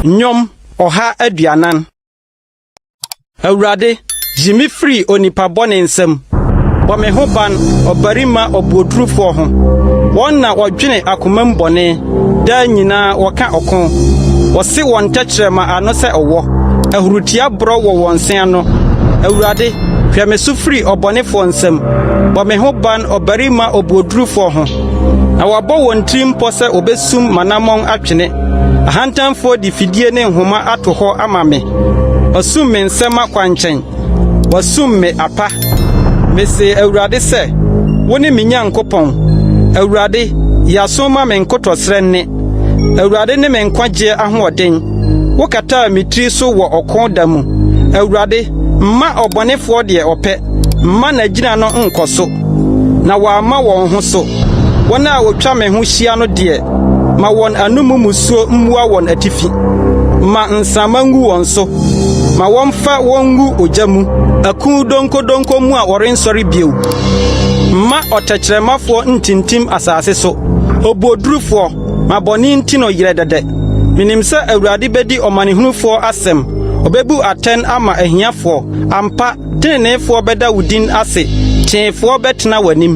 Nnwom ɔha aduanan. Awurade, yi me firi onipa bɔne nsam. Bɔ me ho ban ɔbarima ɔbuodurufoɔ ho. Wɔn na wɔdwene akomam bɔne. Daa nyinaa wɔka ɔko. Wɔse wɔn tɛkyerɛma ano sɛ ɔwɔ. Ahurutia borɔ wɔ wɔn se ano. Awurade, hwɛ me so firi ɔbɔnefoɔ nsam. Bɔ me ho ban ɔbarima obuodurufoɔ ho. Na wɔabɔ wɔn tirim pɔ sɛ wɔbɛsum m'anammɔn atwene. Ahantanfoɔ de fidie ne nhoma ato hɔ ama me. Wɔasum me nsɛmma kwankyɛn. Wasum me apa. Mise Awurade sɛ, Wone me Nyankopɔn. Awurade, yi aso ma me nkotɔsrɛ nne. Awurade ne me nkwagyeɛ ahoɔden. Wokataa me tiri so wɔ ɔko da mu. Awurade, mma ɔbɔnefoɔ deɛ ɔpɛ, mma n'agyina no nkɔ so. na wɔamma wɔn ho so. Wɔn a wɔtwa me ho hyia no deɛ, ma wɔn anom mmusuo mmua wɔn atifi. Ma nsramma ngu wɔn so, ma wɔmfa wɔn ngu ogya mu. Aku donkodonko mu a wɔrensɔre bio. Mma ɔtɛkyerɛmafoɔ ntintim asase so. Obuodurufoɔ, ma bɔne nti no yerɛ dɛdɛ. Menim sɛ Awurade bɛdi ɔmanehunufoɔ asɛm, ɔbɛbu atɛn ama ahiafoɔ. Ampa, Teneneefoɔ bɛda wo din ase. Teefoɔ bɛtena w'anim.